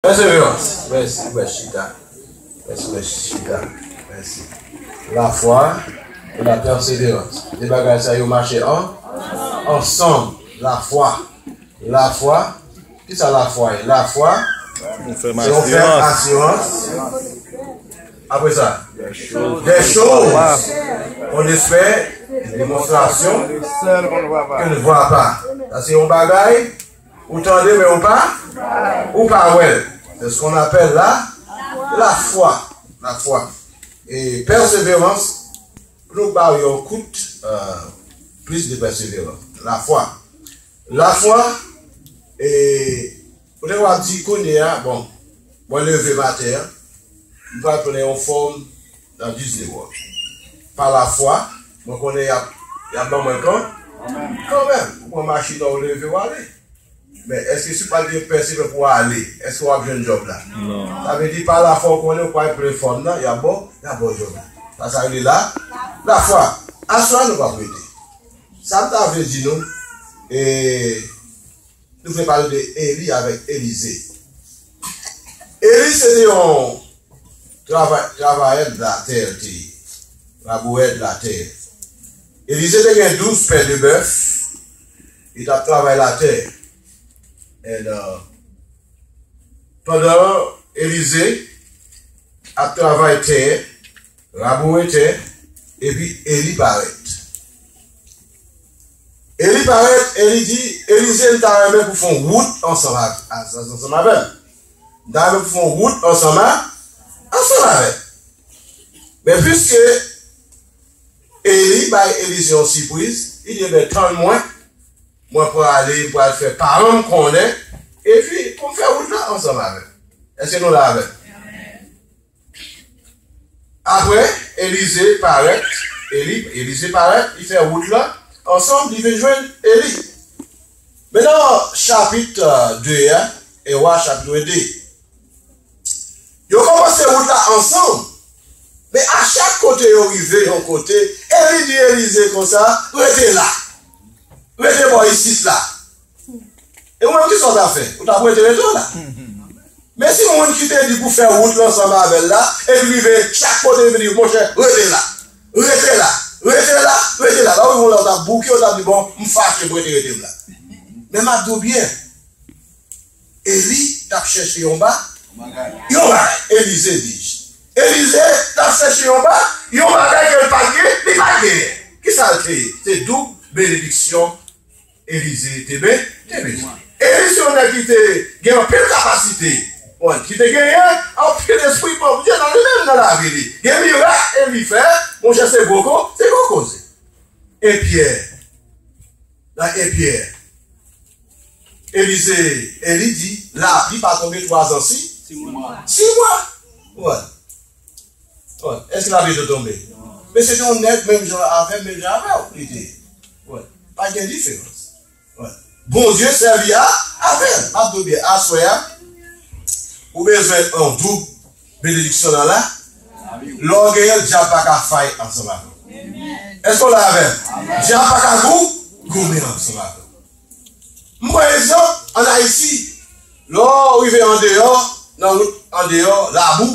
Pèseverans, mèsi mèt chita. Mèsi mèt chita, mèsi. Lafwa e la pèseverans, de bagay sa yo mache an ansanm. Lafwa, lafwa, kisa lafwa ye? Lafwa se yon fèm asirans, apre sa dè choz on espè, demonstrasyon ke n vwa pa. Sa se yon bagay. Ou tande men ou pa ou pa wè. C'est ce qu'on appelle la la foi, la foi. Et persévérance nou ba ou yon kout euh, plus de persévérance. La foi. La foi et ou te wap di kounye a bon, mwen leve matin, mwen pral pran yon forme Nan vize ou. Pa la fwa, mwen konnen y ap y ap ban mwen kan kanmenm. Ou pran machin an ou leve ou ale. Men, èske si ou pa t gen pen se pen pou w ale, èske w ap jwenn djòb la? Sa vle di, pa lafwa ou konnen ou pral plen fòn nan, y ap ba w y ap ba w djòb la. Sa sa rele la lafwa. Aswè a nou p ap rete. Sa m ta vle di nou, e. Nou vle pale de Eli avèk Elize. Eli se te yon travayè latè l te ye, labourè latè. Elize te gen douz pè de bèf, li t ap travay latè. Pandan Elize ap travay tè, laboure tè, epi Eli parèt. Eli parèt e li di Elize, M ta renmen pou w fè yon wout ansanm avè m. M ta renmen pou w fè yon wout ansanm avè m. Men piske Eli bay Elize yon sipriz, li di, Enben, tann mwen, mwen prale, m pral fè paran m konnen, epi pou m fè wout la ansanm avè w. Èske nou la avè m? Apre, Elize parèt, Eli, Elize parèt, li fè wout la, ansanm li vin jwenn Eli. Men nan chapit 2 a, 1 Wa chapitr 2, yo kòmanse wout la ansanm, men a chak kote yo rive yon kote, Eli di Elize konsa, Rete la, rete bò isit la. E ou menm kisa ou ta fè? Ou tap rete rete w la? Men si moun ki te di pou fè wout l ansanm avè l la epi rive chak kote epi di monchè rete la, rete la, rete la, rete la, la ou yon lè ou tap bouke ou tap di bon m fache m rete rete m la. Men map di w byen Eli tap chèche yon ba, yon bagay Elize di j. Elize tap chèche yon ba, yon bagay ke l pat gen, li pat genyen. Kisa l te ye? Se doub benediksyon Elize te ben te bezwen. Elize yon nèg ki te gen anpil kapasite. Bon, ki te genyen anpil espri Bondye nan li menm nan lavi li. Gen mirak Eli fè, monchè se gwo ko, se gwo koze. E Pyè? Nan e Pyè? Elize, Eli di, lapli pa tonbe twazan si? Si mwa. Si mwa. Bon. Bon, èske lavi te tonbe? Men se te yon nèg menm jan avè m, menm jan avè w li te. Bon, pa gen diferans. Bon, Bondye sèvi a avè l. Map di w byen, aswè a, ou bezwen yon doub benediksyon nan la, lè w genyen l, dyab pa ka fay ansanm avè w. Èske w la avè m? Dyab pa ka gou, goumen ansanm avè w. M pran egzanp, an Ayiti, lè w rive andeyò, nan wout andeyò, labou,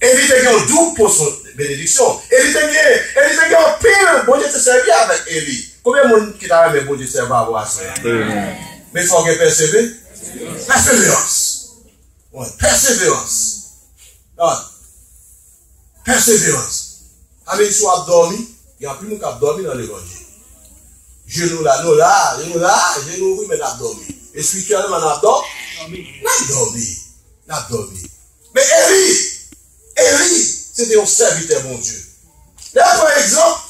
E li te gen yon doub pòsyon benediksyon. E li te gen, e li te gen anpil, Bondye te sèvi avèk Eli. Konbyen moun ki ta renmen Bondye sèvi avè w aswè a? Men fò w gen pèseve, pèseverans. Wen, pèseverans. Gad, pèseverans. Sa vle di si w ap dòmi, gen anpil moun k ap dòmi nan levanjil. Je nou la, nou la, je nou la, je nou ouvri men n ap dòmi. Espirityèlman n ap dò, n ap dòmi, n ap dòmi. Men Eli, Eli se te yon sèvitè Bondye. Lè nou pran egzanp,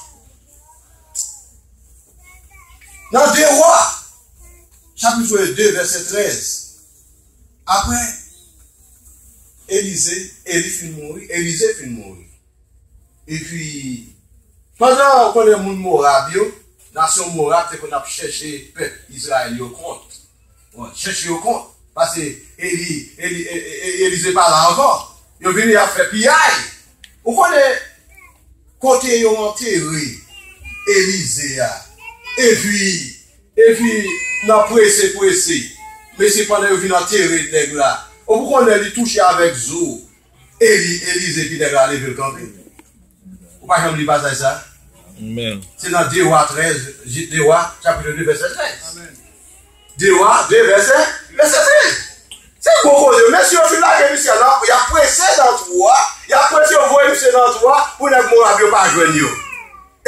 nan 2 Wa, chapit 2, vèsè 13, apre Elize, Eli fin mouri, Elize fin mouri, Epi, pandan ou konnen moun Moab yo, nasyon Moab te konn ap chèche pèp Izrayèl yo kont, chèche yo kont, pase Eli, Eli te pa la ankò, yo vini y ap fè piyay. Ou konnen kote yo antere Elize a? Epi. Epi, nan prese prese, mesye pandan yo vin antere nèg la, ou konnen li touche avèk zo, Eli, Elize ki nèg la leve l kanpe. Ou pa janm li pasaj sa? Se nan 2 Wa 13, 2 Wa chapitre 2 vèsè 13. 2 Wa 2 vèsè vèsè 13. Se gwo koze wi. Mesye yo fin lage misye an nan, y ap prese nan twou a, y ap prese yo voye misye nan twou a pou nèg Moab yo pa jwenn yo.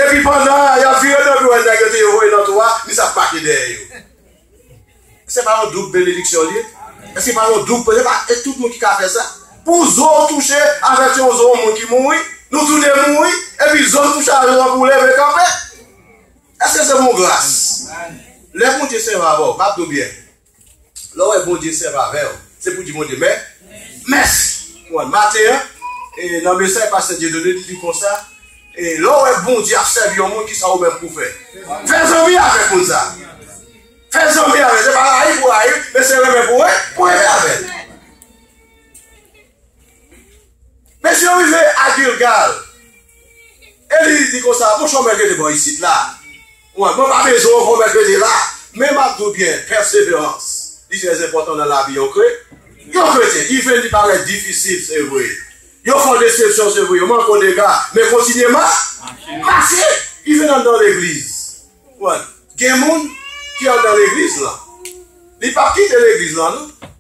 Epi pandan y ap vire do pou yo wè nèg yo te voye nan twou a, misye ap make dèyè yo. Se pa yon doub benediksyon li ye? Èske se pa yon doub, se pa tout moun ki ka fè sa? Pou zo w touche avèk yon zo yon moun ki mouri, nou toude mouri, epi zo m touche avèk lan pou leve kanpe, èske se pou gras? Lè Bondye sèvi avè w, gad nou byen, lè w wè Bondye sèvi avè w, se pou di Bondye mè, mèsi. Maten an, nan mesaj pastè Dieudonné, li di konsa, Lè w wè Bondye ap sèvi yon moun, kisa ou menm pou w fè? Fè zanmi avèk moun sa a. Fè zanmi avè l. Se pa rayi pou w rayi l, men se renmen pou w renmen avè l. Mesye yo rive a Gilgal, Eli di konsa, Monchè, w menm rete bò isit la. Mwen pa bezwen yon pwomès vede la, men m ap di w byen, pèseverans li trè enpòtan nan lavi yon kretyen. Iven li parèt difisil, se vre. Yo fè w desepsyon, se vre. Yo manke w dega, men kontinye mache. Iven anndan legliz, gen moun ki anndan legliz lan, li p ap kite legliz lan non.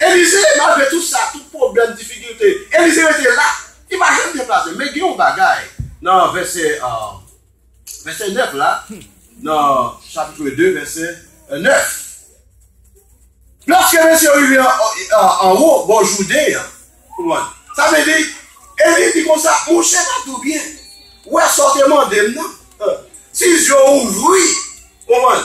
Elize, malgre tout sa, tout pwoblèm, difikilte, Elize rete la, li pa janm deplase. Men gen yon bagay nan vèsè vèsè 9 la, nan chapitre 2 vèsè 9. Lòske mesye yo rive anwo bò Jouden an, konprann? Sa vle di, Elize di konsa, Monchè Patou byen wè sa w te mande m nan, si zye w ouvri, konprann?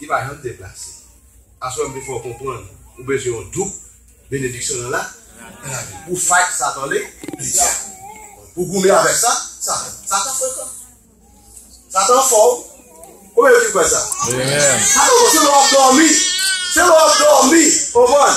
Li pa janm deplase. Aswè m te fè w konprann ou bezwen yon doub benediksyon nan la lavi. Pou fight satan le li dya. Pou goumen avèk sa satan. Satan frekan. Satan fò wi. Konbyen yo ki kwè sa? Satan fò se lè wap dòmi. Se lè wap dòmi. Konprann?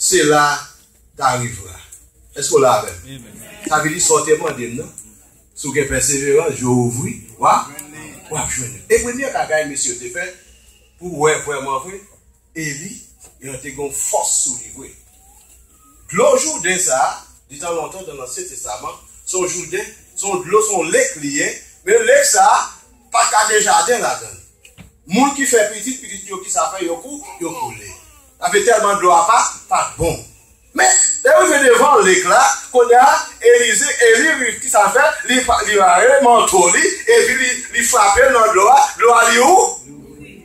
Cela t'arrivera. Èske w la avè m? Sa vle di sa w te mande m nan, si w gen pèseverans, je w ouvri, w a, w ap jwenn li. E premye bagay mesye yo te fè, pou w wè vrèmanvre, Eli, yo te gen yon fòs sou li vre. Dlo Jouden sa a, detan lontan, nan Lansyen Testaman, se yon jouden, se yon dlo, se yon lek li ye, men lek sa a pa t ka gen jaden ladan l. Moun ki fè pitit pitit yo kisa fè yo kou yo koule ape tèlman dlo a pa pat bon men lèl rive devan lek la kounya Elize Eli riv kisa l fè li pa li rale manto li epi li li frapel nan dlo a dlo a li ou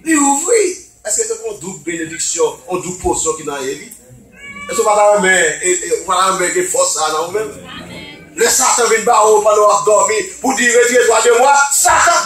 li ouvri èske se kon doub benediksyon on doub posyon ki nan Eli èske ou pata renmen e ou pata renmen gen fòs sa nan ou menm lè satan vin ba ou pandan wap dòmi pou di retire dwa de mwa satan.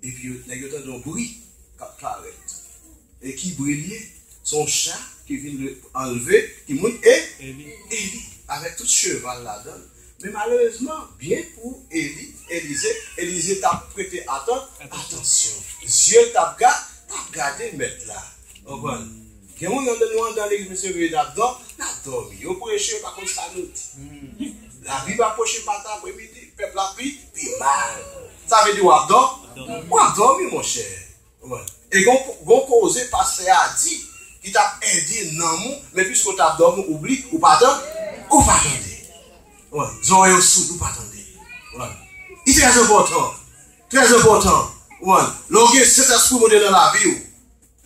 Epi yo, nèg yo tande yon bri kap parèt. E ki bri li ye? Se yon cha ki vin de anlve, ki moun? E, Eli, avèk tout cheval ladan l. Men malerezman, byen pou Eli, Elize, Elize t ap prete atan, atansyon. Zye l t ap ga, t ap gade mèt la. Konprann? Gen moun andan nou andan legliz mesye veye nap dò nap dòmi yo preche yo pa konn sa nou di lavi pa preche maten apre midi pèp la pi pi mal sa vle di wap dò wap dòmi monchè e gon gon koze pastè a di ki tap ede nanm ou men piske ou tap dòmi ou bli ou pa tan ou pa tande zòrèy ou soud ou pa tande li trè enpòtan trè enpòtan lè ou gen sentespri bondye nan lavi ou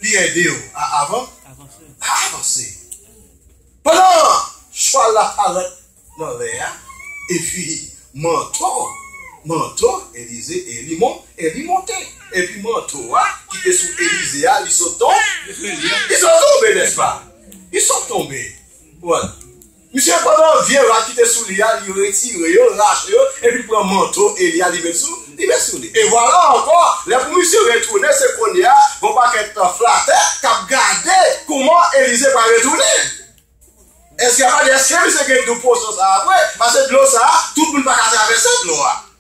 Li ede w a avanse. Pandan chwal la parèt nan lè a, epi manto, manto, Elize, Eli mon, Eli monte, epi manto a ki te sou Elize a, li sot ton, li sot tonbe, nèspa? Li sot tonbe. Wòl. Misye pran nan vye rad ki te sou li a, li retire yo, rache yo, epi li pran manto Eli a li met sou, li met sou li. E vwala ankò, lè pou misye retounen, se kounye a, gen yon pakèt flatè k ap gade kouman Elize pral retounen. Èske y ap gade èske misye gen dou posyon sa a vre? Pase dlo sa a, tout moun pa ka travèse dlo a.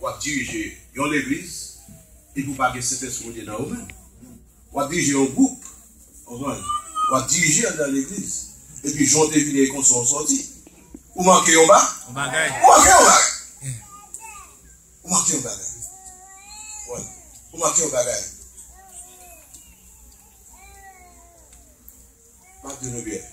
W ap dirije yon legliz epi w pa gen Sentespri Bondye nan ou menm. W ap dirije yon gwoup, konprann, w ap dirije anndan legliz epi jan w te vini e konsa w sòti. Ou manke yon ba? Yon bagay. Ou manke yon bagay. Ou manke yon bagay. Konprann? Ou manke yon bagay. M ap di nou byen.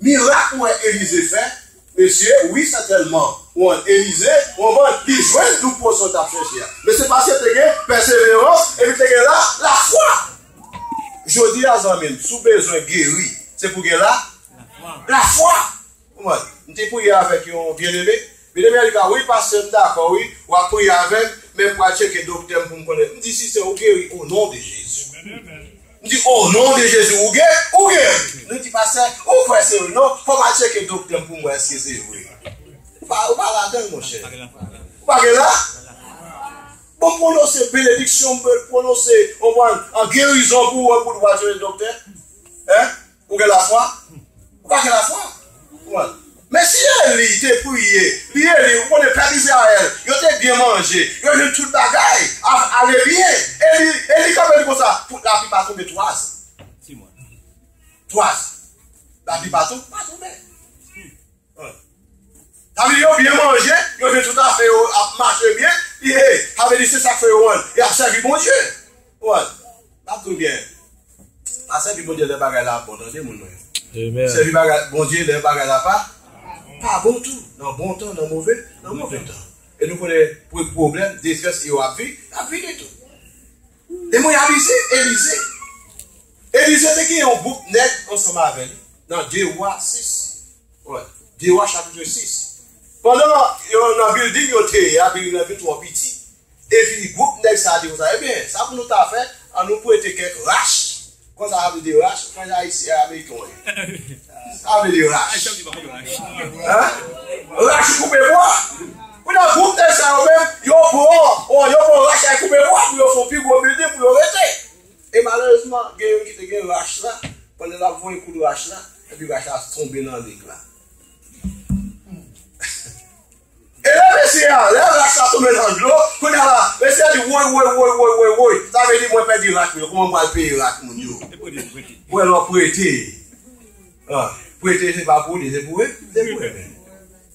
Mirak ou wè Elize fè mesye wi sètèlman wan Elize wan van li jwenn dou pwosyon tap chèche a mesye paske te gen pèseverans epi te gen la lafwa jodi a zanmim sou bezwen geri se pou gen la lafwa ou mwen m te priye avèk yon byeneme Medam yo a di pa wi pastè m dakò wi wap priye avèm men m pral tcheke doktèm poum konnen m di sise ou geri o non de jezi m di o non de jezi ou ge ou geri li di pastè ou kwè se vre non fòm al tcheke doktèm poum wè eske se vre ou pa ou pa ladanl monchè ou pa gen la bon pwonose benediksyon m pwonose konprann an gerizon pou ou an pou dwa tcheke doktè hein Ou gen lafwa? Ou pa gen lafwa? Konprann? Men si Eli te priye, li Eli, ou konnen pèp Izrayèl, yo te byen manje, yo jwenn tout bagay ap ale byen. Eli, Eli kanpe di konsa, Pou lapli pa tonbe twa jou. Twa jou. Lapli pa tonbe. Avili yo byen manje, yo vin tout afè yo ap mache byen, pi e, avili se sa k fè yo an, y ap sèvi Bondye. Ou an, m ap di w byen, pa sèvi Bondye lè bagay la ap bon, tande moun mwen yo. Sèvi bagay, Bondye lè bagay la pa, pa bon tou, nan bon tan, nan move, nan move tan. E nou konnen pou pwoblèm, detrès e yo ap vi, ap vini tou. E mwen y ap ize, Elize, Elije te gen yon gwoup nèg ansanm avè li nan Dye Wa sis, oi, Dye Wa chapitre 6. Pandan yo nan bilding yo te ye a, bilding nan vin twò piti, epi gwoup nèg sa a di konsa, Ebyen, sa pou nou ta fè, an nou prete kèk rach, konsa sa vle di rach, mwen ayisyen, e ameriken w ye? Sa vle di rach. Hein? Rach ou koupe bwa. Kounye a gwoup nèg sa yo menm, yo pran, oi, yo pran rach ak koupe bwa pou yo fè yon pi gwo bilding pou yo rete. E malerezman gen youn ki te gen rach la, pandan lap voye kout rach la, epi rach la tonbe nan lig la. E lè mesye a, lè rach la tonbe nan dlo, kounya la, mesye a di woy woy woy woy woy woy, sa vle di mwen pèdi rach mwen yo, kouman m pral peye rach moun yo? Ou wè lè w prete, prete se pa pou li, se pou remèt.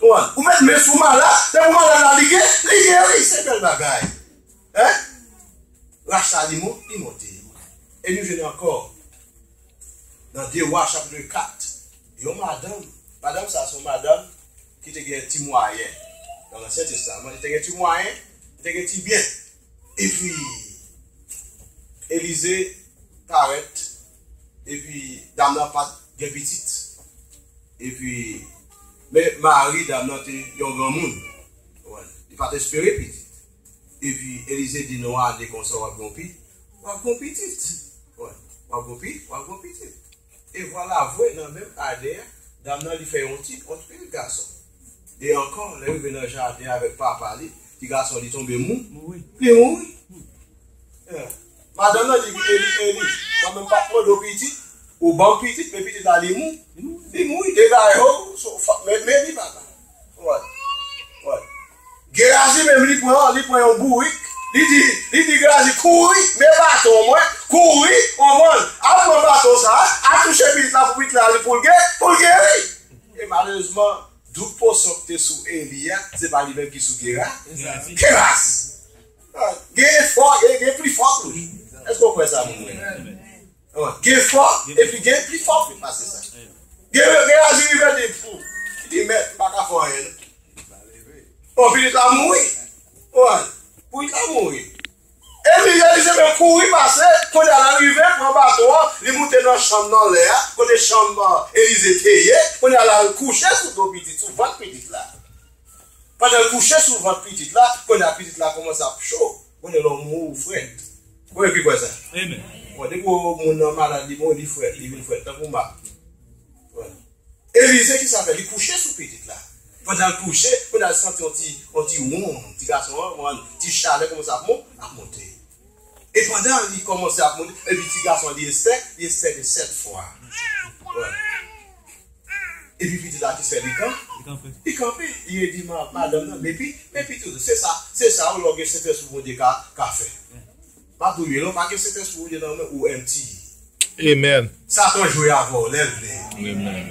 Ou met men sou malad, depi malad la li gen, li geri, se bel bagay. Hein? Rach sa li mont, li monte. E nou jwenn ankò nan 2 Wa chapitre 4, yon madanm, madanm sa son madanm ki te gen ti mwayen nan Lansyen Testaman, li te gen ti mwayen, li te gen ti byen. E pi Elize parèt, e pi dam nan pat gen pitit. Epi, men, Mari, dam nan, te yon granmoun. Konprann? Li pa t espere pitit. Epi, Elize di, Non, ale konsa, w ap gen yon pi, w ap gen yon pitit. Konprann? W ap gen yon pi, w ap gen yon pitit. E vwalavwe, nan menm ane a, dam nan, li fè yon ti pòt, pi l gason. E ankò, lè l rive nan jaden avèk papa li, ti gason li tonbe mou, li mouri. Madan nan di eli eli mwen menm pap mande w pitit ou banm pitit men pitit la li mou li mou wi dega yo men men li papa wòy wòy gerazi menm li pran li pran yon bourik li di li di gerazi kouri men baton mwen kouri on mòn al pran baton sa al touche pitit la pou pitit la li poul ge poul geri e malezman dout posyon ki te sou eli a se pa li menm ki sou gera geraz Gen efò e gen pli fò tou. Èske ou kwè sa, moun mwen yo? Gen efò e pi gen pli fò tou pase sa. Gen reyaji li vè di fou. Li di mèt, m pa ka fè anyen. Ou vini ta mouri. Ou an, pou li ta mouri. E li vè di se men kouri pase, kou li ala rive, pran bato an, li moute nan chanm nan lè a, kote chanm Elize te ye, kou li ala al kouche sou do pitit, sou vant pitit la. Pandan l kouche sou vant pitit la, kounye a pitit la kòmanse ap cho, kounye l ou mouri ou frèt. Konbyen ki kwè sa? Bon, depi ou moun nan malad li mouri li frèt, li vin frèt tankou m ak ou. Elize ki sa l fè? Li kouche sou pitit la. Pandan l kouche, kounye a l santi yon ti wonm, ti gason an, ti chalè kòmanse ap monte. E pandan li kòmanse ap monte, epi ti gason an li estè, li estè li sèt fwa. Epi pitit la ki fè li kan, li kanpe, li redi madanm nan, Mepi, mepi toujou. Se sa, se sa ou lè ou gen Sentespri Bondye ka, ka fè. Pa pou ye, lè ou pa gen Sentespri Bondye nan ou men, ou empty. Amen. Satan jwe avè w lè l vle. Amen.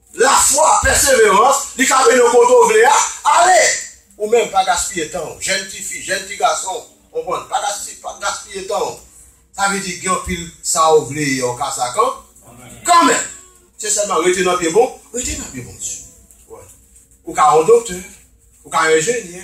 Lafwa, pèseverans, li ka mennen w kote w vle a. Ale! Ou menm, pa gaspiye tan w. Jèn tifi, jèn ti gason, konprann, pa gaspiye tan w. Sa vle di gen anpil sa w vle e w ka sa kan, kanmenm. Se sèlman rete nan pye bon, rete nan pye Bondye. Ou ka yon doktè, ou ka yon enjenyè,